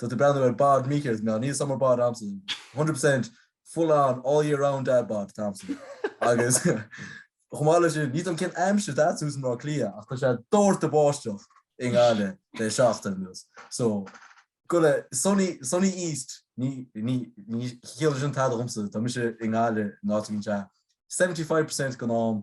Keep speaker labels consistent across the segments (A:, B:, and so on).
A: Tá tú breathnú ar bod Micí agus mé, níl summer bod agamsa, one hundred percent full on all year round dad bod atá agamsa agus chomh maith leis sin níl a fhios agam cén aimsir atá agat thuas in Áth Cliath ach tá sé dórtadh báisteach i nGaillimh le seachtain anuas so go le sunny, sunny east ní, ní, ní chiallaíonn sin tada dhomsa, tá mise i nGaillimh in áit a bhíonn sé seventy five percent den am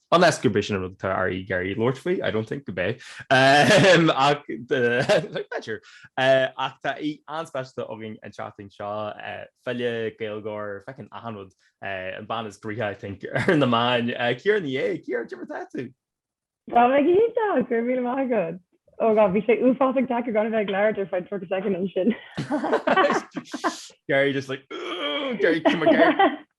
B: Unless gurb é sin an rud atá Ari Gary labhairt faoi, I don't think gurb é. Ach b'fhéidir. Ach tá aoi an-speisialta againn an tseachtain seo. File, Gaeilgeoir, fucking achan rud. An bean is gnoithí, I think, ar na meáin. Ciara Ní É, Ciara, cad é mar atá tú? Tá mé
C: go hiontach, go raibh míle maith agat. Oh God, bhí sé uafásach deacair gan a bheith ag labhairt ar feadh 30 soicind ansin.
B: Gary just like, Ugh! Gary, cuma Gary.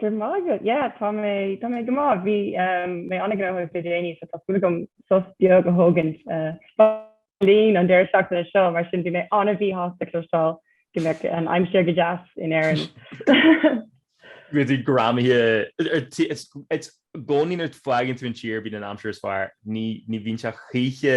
B: Go maith
C: agat. Yeah tá mé tá mé go maith. Bhí mé an-ghnóthach de déanaí so tá súil agam sos beag a thógaint i mBeirlín an deireadh seachtaine seo mar sin bhí mé an-mhíshásta cloisteáil go mbeadh an aimsir go deas in
B: Éirinn. Go dtí greamaithe i gcónaí nuair a fhágann tú an tír a bhíonn an aimsir is fearr. Ní ní bhíonn sé choíche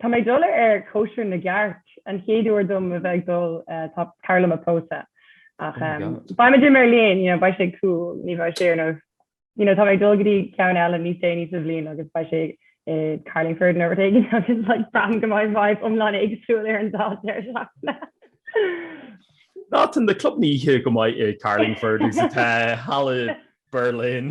B: Tá mé
C: ag dul ar chóisir na gcearc. An chéad uair dom a bheith ag dul, tá cara liom ag pósadh. Ach beimid i mBeirlín, you know, beidh sé cool, ní bheidh sé ar nós, you know, tá mé ag dul go dtí ceann eile níos déanaí sa bhliain agus beidh sé i Carlingford nó rud éigin agus like braithim go mbeidh vibe iomlán éagsúil ar an dá deireadh
B: seachtaine. Nah tá na clubanna oíche chomh maith i gCarlingford agus atá thall i mBerlin.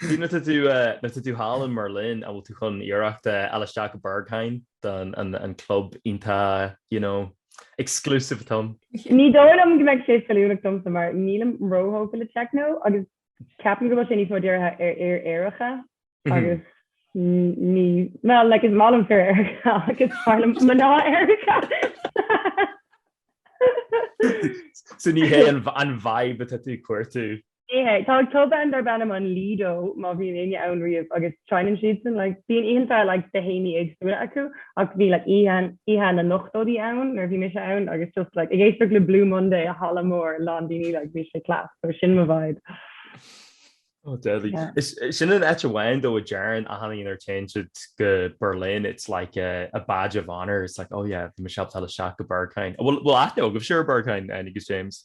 B: Nuair atá tú thall i mBerlin an bhfuil tú chun iarracht a fháil isteach go Berghain don an club iontach you know exclusive atá ann. Ní dóigh liom go
C: mbeidh sé feiliúnach domsa mar nílim róthógtha le techno agus ceapaim go bhfuil sé níos mó dírithe ar fhir aeracha agus ní well like is maith liom fir aeracha ach is fearr liom mná aeracha.
B: So ní hé an vibe atá tú cuartú. Ní hé.
C: Tá club ann darb ainm an Lido, má bhíonn éinne ann riamh, agus seinneann siadsan like, bíonn oícheanta like, de théamaí éagsúla acu ach bhí like, oíche, oíche na n-ochtóidí ann nuair a bhí mise ann agus just like, ag éisteacht le Blue Monday i halla mór lán daoine like, bhí sé class, so sin mo vibe. Oh,
B: deadly. Yeah. Is, is sin an áit amháin though a deireann achan duine nuair a théann siad go Berlin. It's like a, a badge of honor. It's like, oh yeah, mise ábalta fháil isteach go Berghain. Bhfuil, bhfuil aithne agaibhse ar Berghain agus James.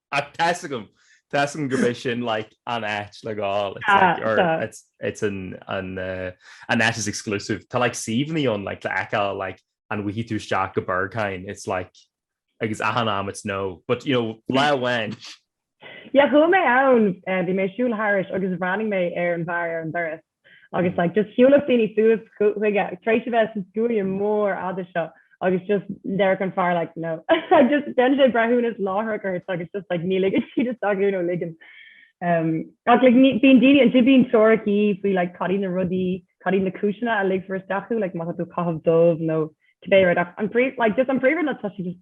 B: Ach tá a fhios agam, tá a fhios agam gurb é sin like an áit le gabháil, it's like Tá, or tá. it's it's an an eh, an áit is exclusive. Tá like suíomhanna ann like le feiceáil like an bhfaighidh tú isteach go Berghain, it's like agus achan am it's no. But you know, lá amháin, Yeah,
C: chuaigh mé ann, eh, bhí mé ag siúl thairis agus bhreathnaigh mé ar an bhfear ar an doras. agus like just shiúlfadh daoine suas chuige tar éis a bheith san scuaine mór fhada seo agus just deireadh an fear like no ag just déanann sé breithiúnas láithreach ort agus it's just like ní ligeann siad isteach thú nó ligeann um, ach like ní bíonn daoine an bíonn teoiricí faoi like cadí na rudaí cadí na cúiseanna a ligfear isteach thú like má tá tú ag caitheamh dubh nó cibé rud ach an príomh like just an príomh rud ná tá sé just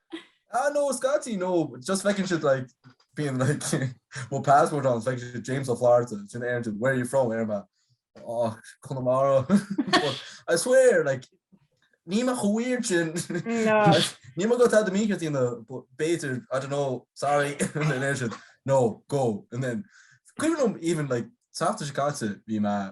C: Ah, no,
A: Scotty, no, just fucking shit like being like well passport on like James of Florida it's an Aaron where are you from Irma oh Connemara I swear like Nima weird chin Nima got had the media in the better I don't know sorry no go and then even even like after Chicago be my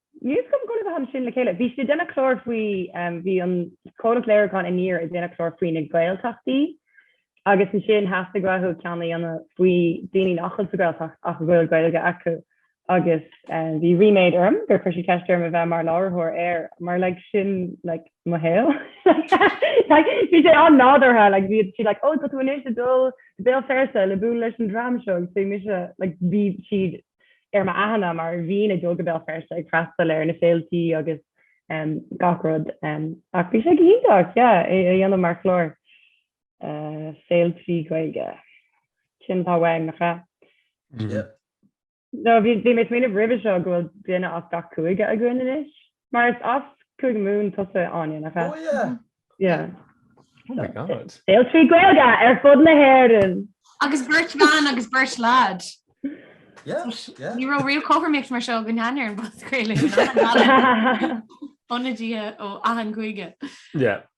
C: Níl 's agam go raibh muid ansin le chéile. Bhí siad ag déanamh clár faoi, bhí an comhlacht léiriúcháin Aniar ag déanamh clár faoi na Gaeltachtaí agus ansin theastaigh uathu ceann a dhéanamh faoi daoine nach bhfuil sa Ghaeltacht ach a bhfuil Gaeilge acu agus bhí ríméad orm gur chuir siad ceist orm a bheith mar láithreoir air mar like sin like mo shaol. Like bhí sé an-nádúrtha like bhí siad like ó tá tú anois ag dul go Béal Feirste le bualadh leis an dream seo so bhí mise like bhí siad ar m'aithne mar bhínn ag dul go Béal Feirste ag freastal ar na féiltí agus gach rud ach bhí sé go hiontach é a dhéanamh mar chlár féiltí Gaeilge sin atá uainn nach ea? No, bhí mé ag smaoineamh roimhe seo go bhfuil duine as gach cúige againn anois. Mar is as Cúige Mumhan tusa Áine, nach ea? Oh yeah. Yeah.
A: Oh my
B: god. Féiltí Gaeilge
C: ar fud na hÉireann. Agus beirt
D: bhean agus beirt
A: lad. Yeah, yeah. Ní raibh
D: riamh cothromaíocht mar seo go n-éirí leis an bpodchraoladh. Ó a Dhia ó achan chúige. Yeah.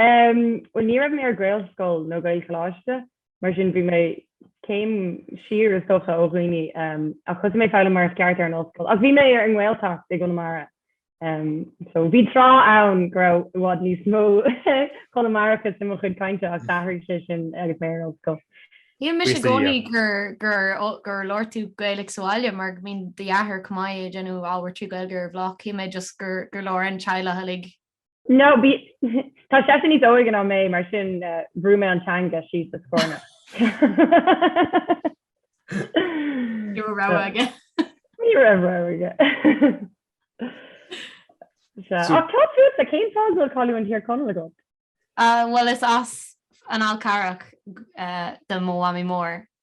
C: Umm bhuel ní raibh mé ar gaelscoil nó gaelcholáiste mar sin bhí mé céim siar is dócha ó dhaoine umm ach thosaigh mé ag foghlaim mar is ceart ar an ollscoil ach bhí mé ar an nGaeltacht i gConamara umm so bhí tráth ann go raibh i bhfad níos mó Conamarachas i mo chuid cainte ach d'athraigh sé sin agus mé ar an ollscoil. Shíl mise
D: i gcónaí gur gur gur labhair tú Gaeilge sa bhaile mar go mbíonn do dheartháir chomh maith ag déanamh ábhar trí Ghaeilge ar an bhloc shíl mé just gur gur labhair an teaghlach uilig No
C: tá seisean níos óige ná mé mar sin eh, bhrú mé an teanga síos sa
D: scornach. Ní raibh rogha aige. Ní raibh rogha
C: aige. Sea, So- ach tá tú sa cén fáth a bhfuil canúint Thír Chonaill agat? Ah, Bhuel is
D: as an Fhál Carrach eh, do mo mhamaí mór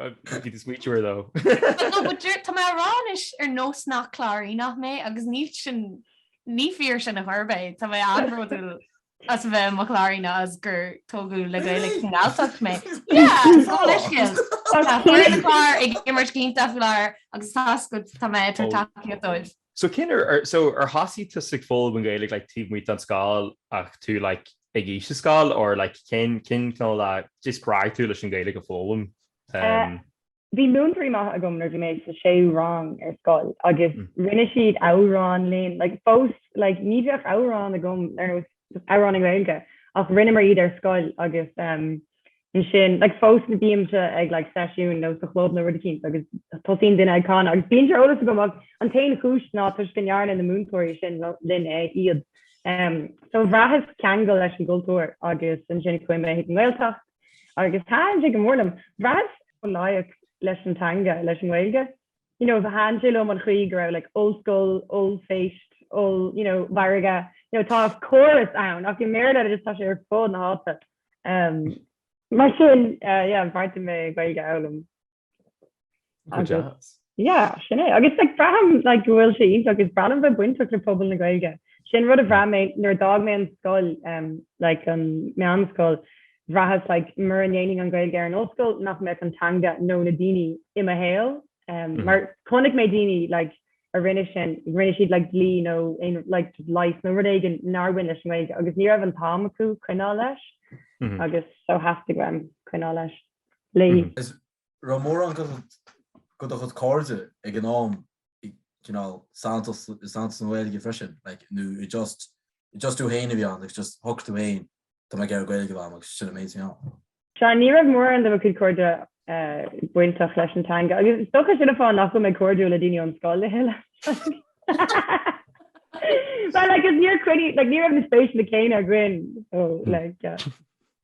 B: Bhí tú so
D: sweet though. Tá mé ag rá anois ar nós nach Cláiríneach mé agus níl sin, ní fíor sin ar chor ar bith. Tá mé an-bhródúil as a bheith i mo Chláiríneach is gur tógadh le Gaeilge sa Ghalltacht mé. Yeah, gabh mo leithscéal. Tá foireann an Chláir ag imirt iontach faoi láthair agus tá mé ag tabhairt tacaíocht dóibh. So cén uair
B: ar so ar thosaigh tusa ag foghlaim an Ghaeilge like taobh amuigh den scoil ach tú like ag aois an scoil or like cén cén cineál le just spreag tú leis an Ghaeilge a fhoghlaim? Eh,
C: Umm. bhí múinteoirí maithe agam nuair bhí mé sa séú rang ar scoil agus rinne siad amhráin linn like fós like ní bheadh amhrán agam ar nós amhráin i nGaeilge ach rinneamar iad ar scoil agus ansin like fós bímse ag like seisiún nó sa chlub nó rud eicínt agus tosaíonn duine ag canadh agus bíonn sé ar eolas agam ach an t-aon chúis ná toisc go ndearna na múinteoirí sin linn é iad um, so bhraitheas ceangal leis an gcultúr agus ansin chuaigh mé chuig an nGaeltacht agus thaitin sé go mór liom bhraitheas an-tógtha leis an teanga leis an nGaeilge you know, ba bhreá liom an chaoi go raibh like ollscoil, ollphéist, oll, you know, mhargadh, you know, tá córas ann, ach i mBéarla agus tá sé ar fud na háite. Um, mar sin, uh, yeah, ba mhaith liom Gaeilge a fhoghlaim. Go Agus- deas. Yeah, sin é. Agus like, braithim, like, go bhfuil sé iontach agus is breá liom bheith bainteach le pobal na Gaeilge. Sin rud a bhraith mé nuair a d'fhág mé an scoil, um, like, an mheánscoil. bhraitheas like mura ndéanfainn an Gaeilge ar an ollscoil nach mbeadh an teanga nó na daoine i mo shaol ehm mar chonaic mé daoine like a rinne sin rinne siad like dlí nó like leigheas nó rud éigin nár bhain leis an nGaeilge agus ní raibh an t-am acu coinneáil leis agus so theastaigh uaim coinneáil leis léi. An
A: raibh mórán de de do chuid cairde ag an am cineál sáite sa sa Ghaeilge freisin like nó an just an just tú féin a bhí ann agus just thug tú féin Tá mé
C: ag
A: iarraidh Gaeilge
C: a
A: mhealladh agus
C: sin an
A: méid a bhí
C: ann.
A: Sea, ní raibh mórán
C: de mo
A: chuid cairde
C: bainteach leis an teanga agus is dócha sin an fáth nach bhfuil mé cairdiúil le daoine ón scoil a thuilleadh. Bhuel, like, is níor choinnigh, like, ní raibh na spéiseanna céanna againn, so, like, yeah.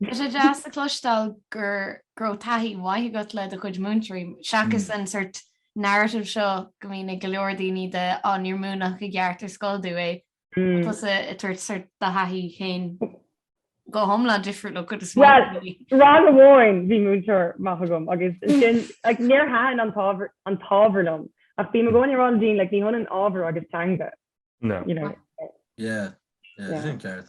C: Tá sé
D: deas a chloisteáil gur go raibh taithí mhaith agat le do chuid múinteoirí, seachas an sort narrative seo go mbíonn ag go leor daoine de, á níor múineadh i gceart ar scoil dom é, Tusa ag tabhairt sort do thaithí féin go hiomlán difriúil ón gcuid is mó Well, daoine. ar
C: ámharaí an domhain bhí múinteoir maith agam agus sin like, níor thaitin an t-ábhar an t-ábhar liom ach bím i gcónaí ag rá le daoine like, ní hionann ábhar agus teanga No. you know.
B: Yeah,
C: yeah,
A: Yeah. sin ceart.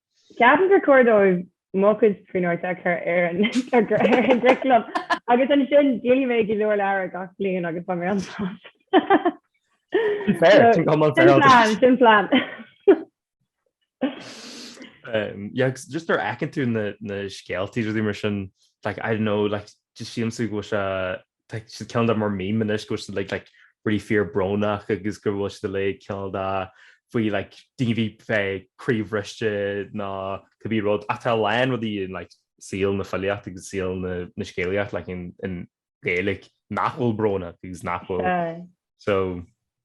B: Ceapaim gur
C: cóir dóibh Manchán féin a chur ar an gcuraclam agus ansin léifidh mé go leor leabhar gach bliain agus ba mé an sásta. Sin
B: plan. Just an bhfeiceann tú na scéalta is rudaí mar sin, I don't know, just seems go bhfuil sé tá siad cineál de mar meme anois go bhfuil siad like like really fíor brónach agus go bhfuil siad uilig cineál de faoi like daoine a bhí eh, croíbhriste nó cibé rud ach tá a lán rudaí in like saol na filíochta agus saol na, na scéalaíochta like in, i nGaeilge nach bhfuil brónach agus nach bhfuil Aye. so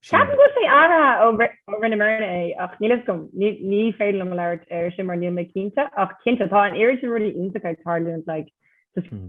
B: Ceapaim go
C: bhfuil sé athraithe ó ri- ó rinne mar é ach níl a fhios agam ní ní féidir liom labhairt air sin mar níl mé cinnte ach cinnte tá anois rudaí iontacha ag tarlúint like Hmm.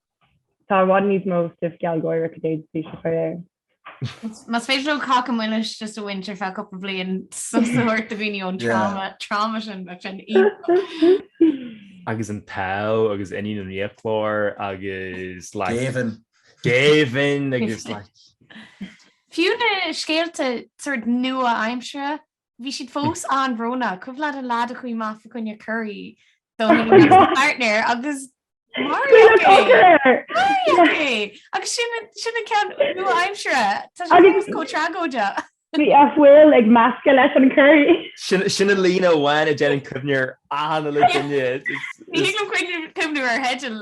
C: Tá i bhfad níos mó stuif gealgháireach a d'fhéadfaí a chur air.
D: Más féidir leo Cáca Milis just a bhaint ar feadh cúpla bliain sos a thabhairt do dhaoine ón trauma trauma sin bheadh sin íoc.
B: Agus An tÁdh agus Iníon an Fhiaclóra agus like Géibheann. Géibheann agus like. Fiú
D: na scéalta sórt nua-aimseartha Bhí siad fós an-bhrónach. Cuimhin leat an leaid a chuaigh amach faoi choinne curry do his next partner agus maraíodh é. Cogar air! Maraíodh é! Agus sin an- sin an ceann nua-aimseartha. Tá sé Agus- fós chomh tragóideach. Bhí
C: fuil ag meascadh leis an curry. Sin sin an líne
B: amháin a dhéanann cuimhne air achan uile duine. Ní thig liom cuimhniú-
D: cuimhniú ar theidil.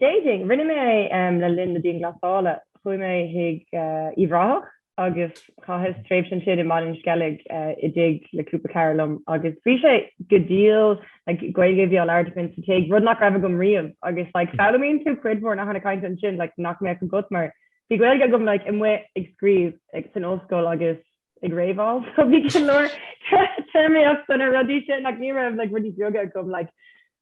C: Dating. Rinne mé é le linn na dianghlasála. Chuaigh mé chuig Uíbh Ráthach agus chaitheas tréimhse ansin i mBaile an Sceilg i dtigh le cúpla cara liom agus bhí sé go diail, like, Gaeilge a bhí á labhairt againn sa tigh, rud nach raibh agam riamh agus, like, foghlaimíonn tú cuid mhór nathanna cainte ansin, like, nach mbeadh agat mar bhí Gaeilge agam, like, amuigh ag scríobh san ollscoil agus ag réamháil so bhí go leor téarmaíochta sna rudaí sin, ach ní raibh, like, rudaí beaga agam, like,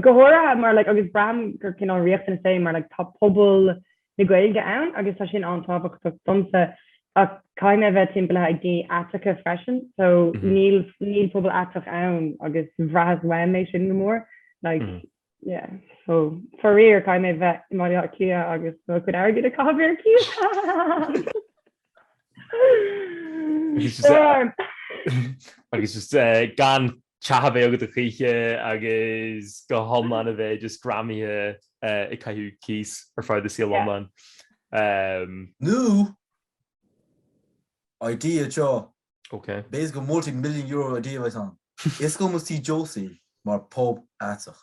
C: go háirithe mar like, agus braithim gur cineál riachtanas é mar like, tá pobal na Gaeilge ann agus tá sin an-tábhachtach domsa ach caithfidh mé bheith timpeallaithe ag daoine aiteacha freisin so mm -hmm. níl, níl pobal aiteach ann agus bhraitheas uaim é sin go mór like, mm. yeah. so faraor caithfidh mé bheith i mBaile Átha Cliath agus mo chuid airgid a chaitheamh ar
B: chíos agus just uh, gan Teach a bheith agat choíche agus go hiomlán a bheith just greamaithe ag caitheamh cíos ar feadh do saol iomlán.
A: New idea seo. Ok. B'fhéidir
B: go multi million
A: euro idea a bheidh ann. Osclóidh muid Tí Josie mar pub aiteach.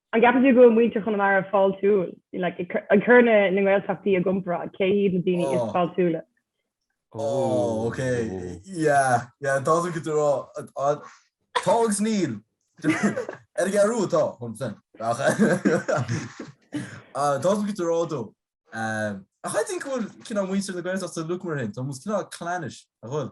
C: An gceapann tú go bhfuil muintir Chonamara fáiltiúil ag cur na nGaeltachtaí i gcomparáid? Cé hiad na daoine is fáiltiúla? Oh
A: ok yeah yeah dócha go dtá tá agus níl ar an ghearrú atá chun san ach dócha go dtá dó ach I think go bhfuil cineál muintir na Gaeltachta uilig mar sin tá muid cineál clannish a bhfuil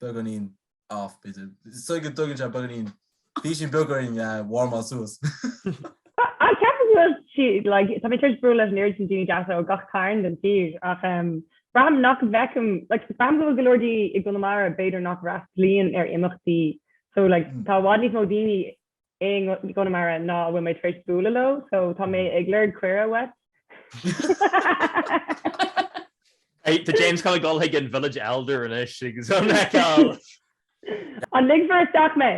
A: beagáinín off b'fhéidir. So go dtógann sé beagáinín bhí sin beagáinín warmáil suas.
C: Ach ceapaim go bhfuil sé like tá mé tar éis bualadh leis an oiread sin daoine deasa ó gach cearn den tír ach em braithim nach bhfeicim like braithim go bhfuil go leor daoine i gConamara b'fhéidir nach bhfreastlaíonn ar imeachtaí so like tá i bhfad níos mó daoine i gConamara ná a bhfuil mé tar éis bualadh leo so tá mé ag lorg cuireadh
B: uait. Tá James chun a dhul chuig an village elder anois agus a fheiceáil an
C: ligfear isteach mé?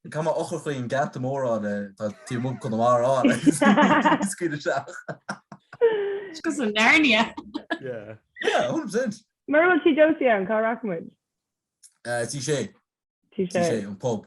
C: Caith mo eochair
A: chuig an ngeata mór atá taobh amuigh Conamara ann agus scaoil
D: isteach. It's cos of Narnia.
A: Yeah. Yeah, 100%. Mura bhfuil sí Josie
C: ann cá rachaidh muid?
A: T6. T6. T6 an pub.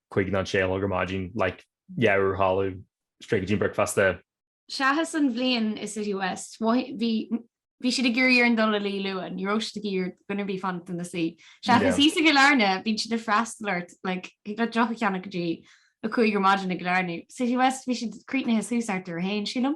B: chuig a sé a chlog ar maidin, like, yeah, ar shiúl, straight go dtí an bricfeasta. Seachas an
D: bhliain i City West, bhí siad ag cur iachall orainn dul i luí luath, ní raibh siad ag iarraidh do dhaoine a bheith ag fanacht ina suí. Seachas thíos i gCillairne, bíonn siad ag freastal ort, like, thig leat deoch a cheannach go dtí a cúig ar maidin i gCillairne. City West, bhí siad críochnaithe suas thart ar a haon, sílim.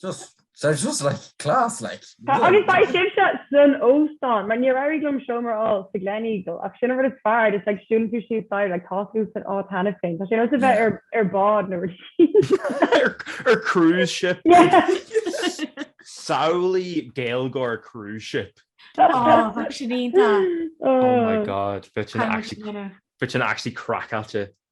A: Just, they're just like class, like. Agus bhí
C: sibhse san óstán, mar níor éirigh liom seomra a fháil sa Gleneagle, ach sin an rud is fearr, is like siúlann tú síos staighre, like tá tú san áit cheana féin, tá sé nós a bheith ar ar bád nó rud.
B: Ar cruise
C: ship.
B: Samhlaigh Gaeilgeoir cruise ship. Oh, bheadh
D: sin iontach.
B: Oh my god, bheadh sin actually, bheadh sin actually craiceáilte.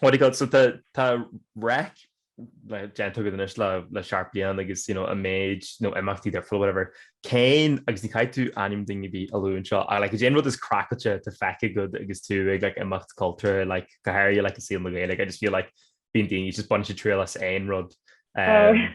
B: What do you call it, so tá, tá Reic like déanta agat anois le, le sé, seacht bliain agus, you know, an méid, na himeachtaí difriúla, whatever, cén, agus ní chaithfidh tú ainm duine ar bith a lua anseo, ach like cad é an rud is craiceáilte atá feicthe agat agus tú ag like imeacht cultúrtha, like go háirithe like i saol na Gaeilge, I just feel like bíonn daoine just ag baint triail as aon rud. Um,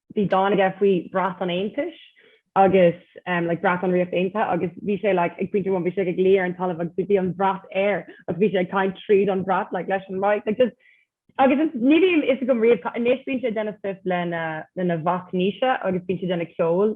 C: bhí dán aige faoi bhrat an Aontais agus like brat an Ríocht Aontaithe agus bhí sé like ag pointe amháin bhí sé ag luí ar an talamh agus bhí an bhrat air agus bhí sé ag caint tríd an bhrat like leis an mic like just agus is ní bhíonn a fhios agam riamh ca anois bíonn sé ag déanamh stuif lena lena mhac Naoise agus bíonn sé ag déanamh ceoil.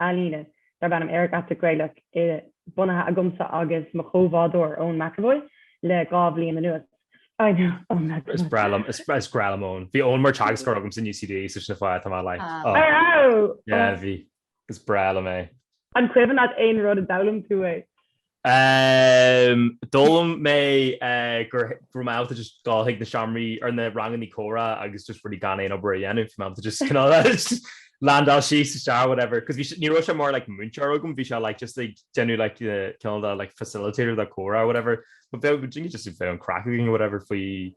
C: ealaíne darb ainm Aerach Aiteach Gaelach bunaithe agamsa agus mo chomhbhádóir Eoin McEvoy le dhá bhliain anuas. I know, Eoin McEvoy. Is breá liom, is
B: breá liom Eoin. Bhí Eoin mar teagascóir agamsa in UCD so sin an fáth, tá mé like. Ah. I
C: know! Yeah, bhí.
B: Is breá liom é. An cuimhin leat
C: aon rud a d'fhoghlaim tú uaidh?
B: Ehm, d'fhoghlaim mé go raibh mé ábalta just dul chuig na seomraí, nó na rangannaí comhrá agus just rudaí gan aon obair a dhéanamh, bhí mé ábalta just cineál landáil suas isteach whatever, 'cause bhí sé, ní raibh sé mar like múinteoir agam, bhí sé like just ag déanamh like cineál de like facilitator do comhrá whatever, but bheadh, d'you know just bheadh an craic againn whatever faoi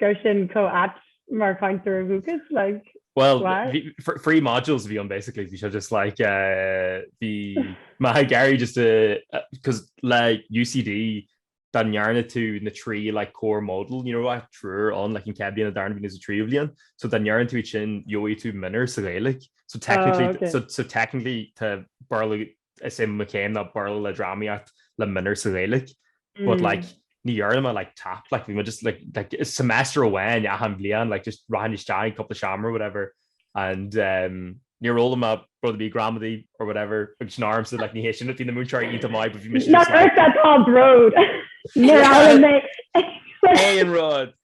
C: Go bhfuil sé sin chomh ait mar cainteoir dúchais like Well, why?
B: bhí- fr- free modules a bhí ann basically, bhí sé just like, uh, bhí mé ag iarraidh just a, cos le UCD, dá ndearna tú na trí like core module, you know what, triúr ann, like an chéad bhliain, an darna bliain, is an tríú bliain, so dá ndearna tú iad sin, gheobhaidh tú minor sa Ghaeilge, so technically, Oh, okay. so, so technically, tá Béarla is é mo chéim ná Béarla le drámaíocht le minor sa Ghaeilge but like ní dhearna mé like tap like bhí mé just like like semester amháin achan bhliain like just rachainn isteach cúpla seamair or whatever and um níor fhoghlaim mé rud ar bith gramadaí or whatever agus sin ormsa like ní hé sin rud na múinteoirí iontach maith but bhí mé just like Nach raibh sé atá bród
C: Níor fhoghlaim
B: mé aon rud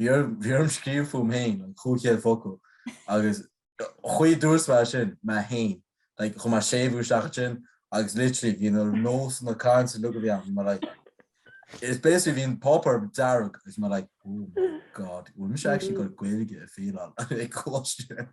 A: Bhí orm, bhí orm scríobh fúm féin an chúig chéad focal agus chuaigh dúirt mé sin, mé fhéin, like, chuir mé séimhiú isteach ansin agus literally bhí na nósanna cainte uilig a bhí ann, bhí mé like, it's basically bhí an páipéar dearg agus bhí mé like, oh my god, bhfuil mise actually ag gabháil Gaeilge a fhaileáil ag coláiste.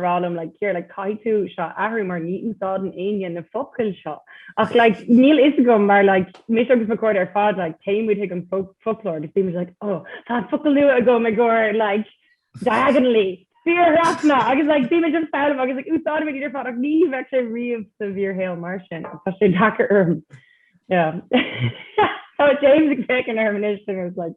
C: rá liom like here like caithfidh tú seo a athrú mar ní úsáideann éinne na focail seo ach like níl fhios agam mar like mise agus mo chairde ar fad like téimid chuig an foclóir agus bímid like oh tá focal nua agam i gcomhair like diagonally fiarthrasna agus like bímid an fém agus like úsáideann muid ar fad ach ní bheidh sé riamh sa bhfíorshaol mar sin tá sé deacair orm yeah Tá James ag féachaint orm anois agus like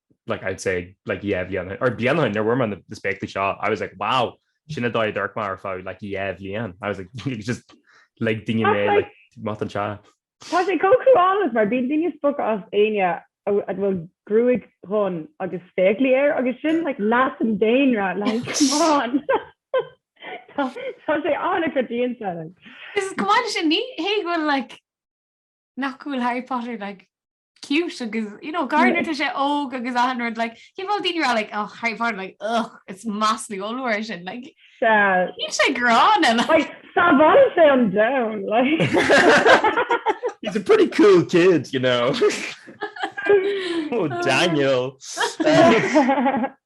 B: like I'd say like yeah bhliana or bliana nuair a fuair mé na spéaclaí seo I was like wow sin an dóigh a d'amharc mé ar feadh like dhá bhliain I was like it's just like daoine mé like má an sea. Tá sé chomh
C: cruálach mar bíonn daoine ag spochadh as éinne a bhfuil gruaig dhonn agus spéaclaí air agus sin like leath an daonra like come on Tá sé an-choitianta. Is chomh
D: maith le sin ní hé bhfuil like nach bhfuil Harry Potter like cute agus you know gardener tá sé óg agus ahan rud like cé bhfuil daoine rá like oh Harry Potter like ugh it's massly olúir sin like ní sé gránna like tá bhal
C: sé an down like
B: he's a pretty cool kid you know oh Daniel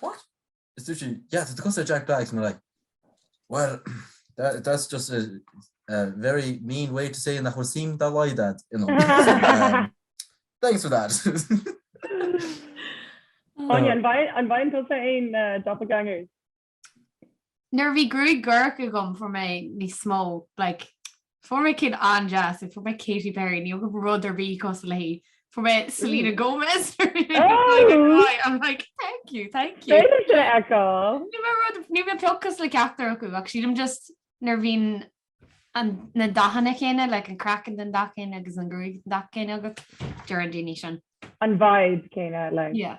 A: What? Is dúirt sí, yeah, tá tú cosúil le Jack Black. I'm like, well, that, that's just a, a very mean way to say nach bhfuil suim dá laghad ad, you know. um, thanks for that. Áine, an bhfaigheann, an bhfaigheann tusa
C: aon uh,
D: doppelgangers? Nuair a bhí gruaig dhorcha agam fuair mé níos mó, like, Fuair mé cinn an-deas, fuair mé Katy Perry, níl mé rud ar bith cosúil léi, fuair mé Selena Gomez ar bith ar bith ar bith, I'm like thank you, thank you. B'fhéidir é a fheiceáil. Níl mé rud, níl mé pioc cosúil le ceachtar acu ach sílim just nuair a bhíonn an, na dathanna céanna, like an craiceann den dath céanna agus an gruaig den dath céanna
C: agat,
D: deireann daoine sin. An vibe céanna, like. Yeah.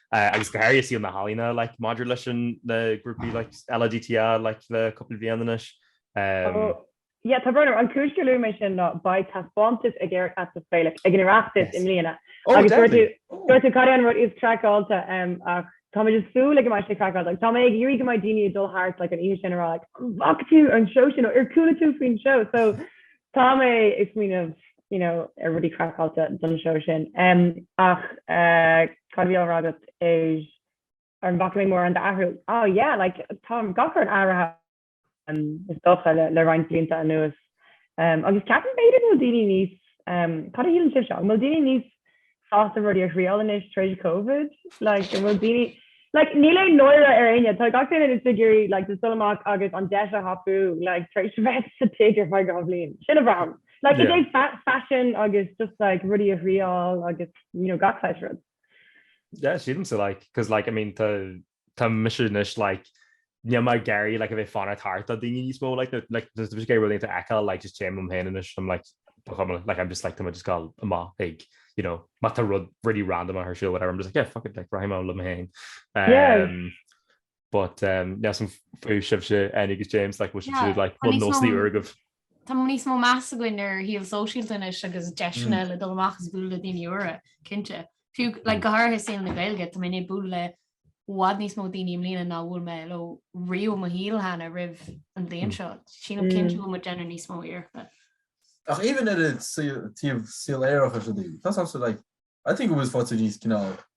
B: agus go háirithe i saol na healaíne like maidir leis an na grúpaí like LADTA like le cúpla bhliain
C: anois. Um. Yeah, tá brón. An cúis gur luaigh mé sin ná beidh taispeántas ag Aerach Aiteach Gaelach ag an Oireachtas yes. i mbliana. Oh, agus deadly. Dúirt tú cad é an rud is craiceáilte um, ach Tá mé just ag súil go mbeidh sé craiceáilte tá mé ag iarraidh go mbeidh daoine ag dul thart like an oíche sin ag rá like an bhfaca tú an seó sin ar chuala tú faoin seó so Tá mé ag smaoineamh you know ar rudaí craiceáilte don seó sin. Em ach cad a bhí á rá agat is ar an bhfaca mé mórán d'athrú? Oh yeah like tá gach rud athraithe em is dócha le roinnt blianta anuas. Em agus ceapaim b'fhéidir go bhfuil daoine níos em cad a shíleann sibhse? An bhfuil daoine níos sásta rudaí a thriail anois tar éis Covid like an bhfuil daoine like níl aon náire ar éinne tá gach duine anois ag iarraidh like dul amach agus an deis a thapú like tar éis a bheith sa tigh ar feadh dhá bhliain sin é a bhraithim like it's like fashion agus just like rudaí a thriail agus you know gach saghas rud. Yeah,
B: sílim so like cos like I mean tá tá mise anois like ní mar gairí le a bheith fanna tarta daine níos mó like bhí gé bhfuil eá le just téim am héanana sem le like I'm just like just gal amá ag you know má tá rud really random a her siú whatever I'm just like yeah fuck it like rahim le hain um but um yeah some food ship shit and it James like which yeah, like well mostly urgov Tá níos
D: mó meas againn ar shaol sóisialta anois agus deiseanna le dul amach is bualadh le daoine úra, cinnte. Fiú le go háirithe i saol na Gaeilge, tá mé ag bualadh le i bhfad níos mó daoine i mbliana ná a bhuail mé leo riamh i mo shaol cheana roimh an bhliain seo. Sílim cinnte go bhfuil muid ag déanamh níos mó iarrachta. Ach
A: even ar an taobh saol aerach as sin í. Tá sásta, like, I think it was fáilte níos cineál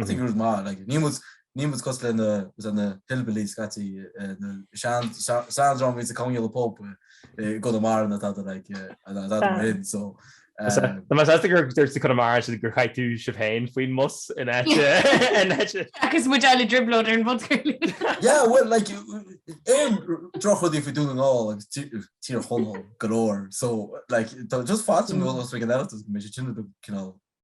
A: I think it was maith like ní muid ní muid cos le na was na hillbillies scaití na sean sean drámaí sa comhghéilleadh pob i gConamara na tada like an an tada mar sin so Tá más as
B: gur dúirt sa Conamara sin gur chaith tú sibh féin faoin mbus in áite in áite.
D: Agus muid eile drioblóid ar an bhunchúil. Yeah well like
A: aon drochrudaí faoi Dún na nGall agus tí- tír Chonaill go leor so like tá just fáilte nó os ag an eile go mbeidh sé sin cinál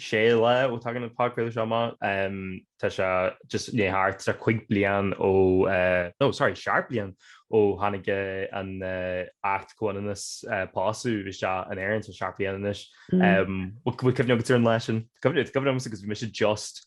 B: sé le ó tagann an podchraoladh seo amach. Tá sé just nó thart ar chúig bliain ó, no, sorry, seacht mbliain ó tháinig an tAcht Comhionannas Pósta isteach in Éirinn, so seacht mbliain anois. Bhfuil cuimhne agat ar an lá sin? Cuimhin, is cuimhin liomsa agus bhí mise just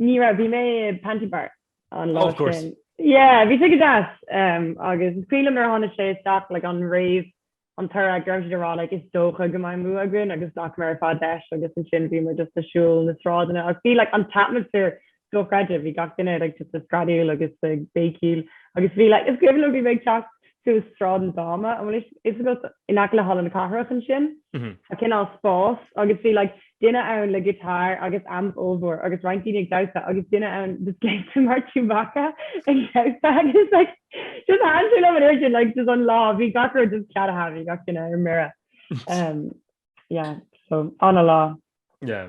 B: Ní raibh, bhí mé
C: i Panty Bar an lá
B: sin. Yeah, bhí sé
C: go deas agus is cuimhin liom nuair a tháinig sé isteach like an réamh, an toradh go raibh siad ag rá like is dócha go mbeidh an bua againn agus ghlac muid ar fad leis agus ansin bhí muid just ag siúl na sráideanna agus bhí like an t-atmaisféar dochreidte, bhí gach duine like just ag screadaíl agus ag béicíl agus bhí like is cuimhin liom bhí mé ag teacht suas Sráid na Dáma, an bhfuil fhios agat, in aice le Halla na Cathrach ansin, tá cineál spás agus bhí like duine ann le guitar agus amp ollmhór agus roinnt daoine ag damhsa agus duine ann just gléasta mar Chewbacca ag damhsa agus like just thaitin sé liom an uair sin like just an lá bhí gach rud just ceadaithe bhí gach duine ar mire. yeah so an-lá. yeah.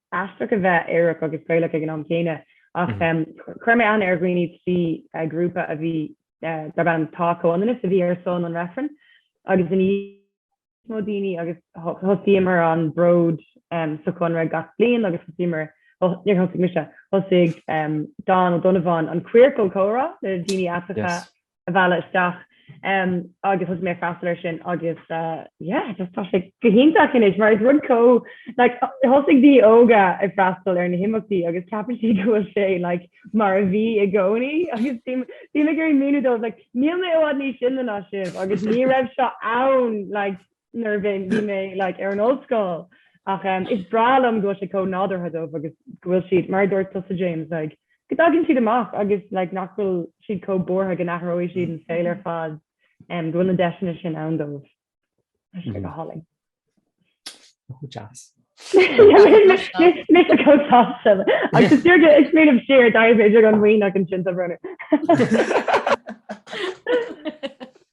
C: aisteach a bheith aerach agus Gaelach ag an am céanna ach chuir mé aithne ar dhaoine trí ghrúpa a bhí darb ainm Tá Comhionannas a bhí ar son an reifrinn agus ina dhiaidh sin níos mó daoine agus thosaíomar an bród sa Chonradh gach bliain agus thosaíomar, níor thosaigh mise, thosaigh Donn Ó Donnabháin an Queercal Comhrá le daoine aiteacha a mhealladh isteach agus thosaigh mé ag freastal ar sin agus tá sé go hiontach anois mar is rud go like thosaigh daoine óga ag freastal ar na himeachtaí agus ceapann siad go bhfuil sé mar a bhí i gcónaí agus bhí mé ag míniú dóibh níl mé i bhfad níos sine ná sibh agus ní raibh seo ann nuair a bhíonn bhí mé like, ar an ollscoil ach um, is breá liom go bhfuil sé chomh nádúrtha dóibh agus go bhfuil siad mar a dúirt tusa James like, go dtagann siad amach agus like, nach bhfuil siad chomh buartha go n-athróidh siad an saol ar fad um, go bhfuil na deiseanna sin ann dóibh. Tá sé go hálainn.
B: Go
C: deas. Mis a cótá agus tíirge is mé am séir d daimh idir an mhaoineach an sin a brunner.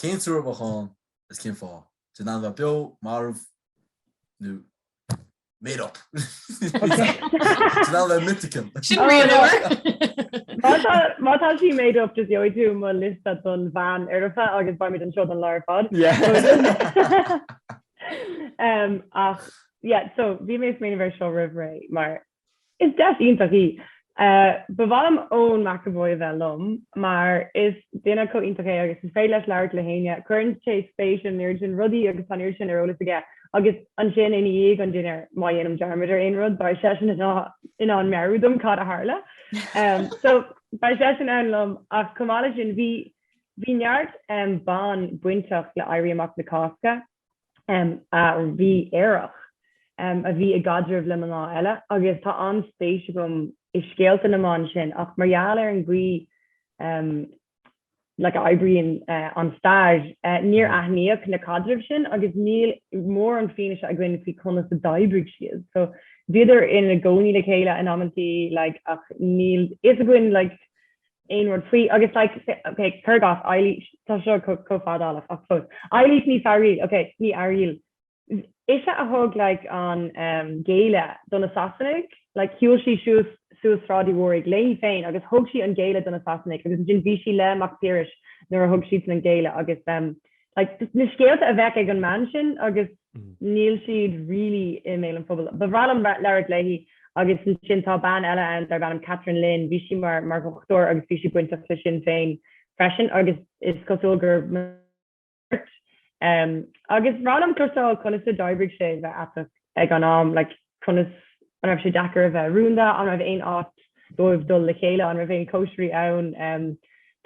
A: Cén triúr a bheadh ann is cén fáth? Tá siad in ann a bheith beo, marbh nó made up. Tá siad in ann a bheith mythical. Sin rian uair.
C: Má tá sí made up just gheobhaidh tú mo liosta don bhean oireamha agus beimid anseo don lá ar fad. Ach yeah so bhí mé ag smaoineamh ar seo roimh ré mar Is deis iontach í. Ba mhaith liom Eoin McEvoy a bheith liom mar is duine chomh iontach é agus is féidir leis labhairt le héinne. Cuireann sé spéis in an oiread sin rudaí agus tá an oiread sin ar eolas aige agus ansin ina dhiaidh an dinnéar má dhéanaim dearmad ar aon rud beidh seisean in ann meabhrú dom cad a tharla. So beidh seisean ann liom ach chomh maith leis sin bhí bhí neart ban bainteach le éirí amach na Cásca a bhí aerach, a bhí i gcaidreamh le mná eile agus tá an-spéis agam i scéalta na mban sin ach mar gheall ar an gcaoi like a oibríonn an stair, níor aithníodh na caidrimh sin agus níl mórán fianaise againn faoi conas a d'oibrigh siad. So bhíodar ina gcónaí le chéile in amantaí like ach níl a fhios againn like aon rud faoi agus like ok cur gach Eilís tá seo chomh fadálach ach fós Eilís Ní Fearghail ok Ní Fhearghail ise a thug like an géilleadh do na Sasanaigh like shiúil sí suas suas Sráid Uí Mhórdha léi féin agus thug sí an géilleadh do na Sasanaigh agus ansin bhí sí le Mac Piarais nuair a thug siadsan an géilleadh agus like na scéalta a bheadh ag an mbean sin agus níl siad really i mbéal an phobail. Ba bhreá liom labhairt léi agus ansin tá bean eile ann darb ainm Kathleen Lynn, bhí sí mar mar dhochtúir agus bhí sí bainteach le Sinn Féin freisin agus is cosúil gur marbh. Agus ba bhreá liom cloisteáil conas a d'oibrigh sé bheith aiteach ag an am, like conas, an raibh sé deacair a bheith rúnda, an raibh aon áit dóibh dul le chéile, an raibh aon chóisirí ann.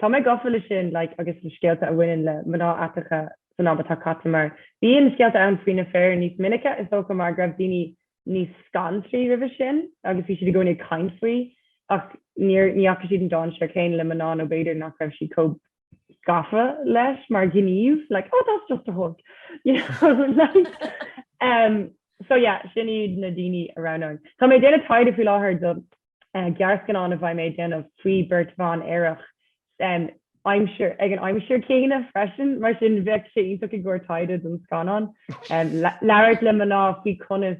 C: Tá mé gafa le sin like agus le scéalta a bhaineann le mná aiteacha san am atá caite mar bíonn scéalta ann faoi na fir níos minice is dócha mar go raibh daoine níos scanraithe roimhe sin agus bhí siad i gcónaí ag caint faoi ach níor, ní fhaca siad an dainséar céanna le mná nó b'fhéidir nach raibh siad chomh gafa leis mar gníomh like oh that's just a hug you know like um so yeah sin iad na daoine a raibh ann. Tá mé ag déanamh taighde faoi láthair do eh, gearrscannán a bheidh mé ag déanamh faoi beirt bhan aerach em, aimsir, ag an aimsir céanna freisin mar sin bheadh sé iontach i gcomhair taighde don scannán em, le- labhairt le mná faoi conas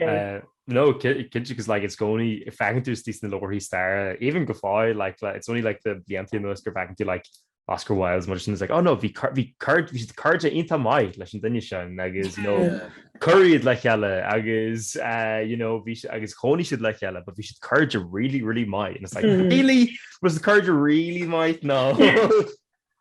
B: Uh, no kid because like it's going if I can do this in the lower he's there even Gafai like, like it's only like the the anti most go back into like Oscar Wilde's much and it's like oh no vi vi card vi card inta mai leis an dunne sin agus you know curried le heile agus uh, you know vi agus choní si le heile, but vi si card really really mai and it's like mm. really was the card really might no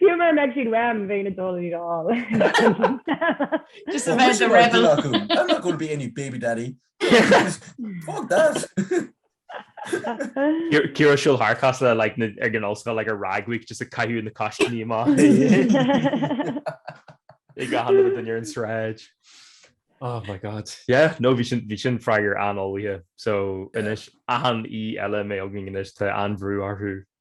C: Fiú mura mbeidh siad uaim, bheinn ag dul iad a
D: fháil. Just a Well, bheith muise the mar rebel. duine acu, I'm
A: not going to be any baby daddy. Fuck that. Ciar-
B: Ciara ag siúl thart cosúil le like, na- ag an ollscoil like, ar rag week just ag caitheamh na coiscíní amach. Ag achan duine ar an sráid. Oh my god. Yeah, no, bhí sin, bhí sin freagar an-ullmhaithe. So, anois, achan aoi eile a mbeidh againn anois, tá an-bhrú orthu.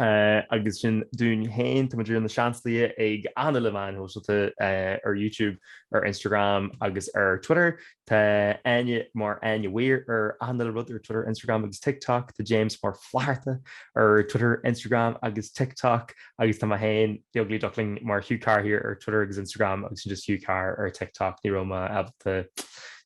B: Agus sin dúinn féin, táimid mar Na Seansálaithe ag achan uile meáin shóisialta ar YouTube, ar Instagram agus ar Twitter. Tá Áine mar Áine Weir ar achan uile rud ar Twitter, Instagram agus TikTok. Tá James mar Flatharta ar Twitter, Instagram agus TikTok. Agus tá mé féin, The Ugly Duckling, mar Hugh Carr here ar Twitter agus Instagram agus sin just Hugh Carr ar TikTok. Ní raibh mé ábalta,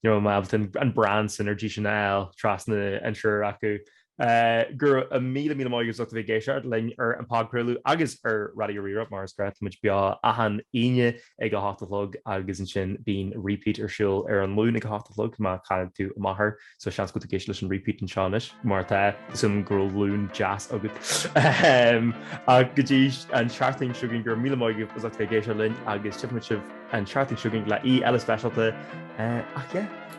B: ní raibh mé ábalta an brand synergy sin a fháil trasna an triúir acu. Go raibh míle míle maith agat as ucht a bheith ag éisteacht linn ar an podchraoladh agus ar Raidió Rí-Rá mar is gnáth táimid beo achan Aoine ag a hocht a chlog agus ansin bíonn repeat ar siúl ar an Luan ag a hocht a chlog má chaill tú a máthair so seans go bhfuil tú ag éisteacht leis an repeat anseo anois má tá tá súil agam go raibh Luan deas agat ach go dtí an tseachtain seo chugainn go raibh míle maith agat as a bheith ag éisteacht linn agus tchífimid sibh an tseachtain seo chugainn le aoi eile speisialta ach yeah.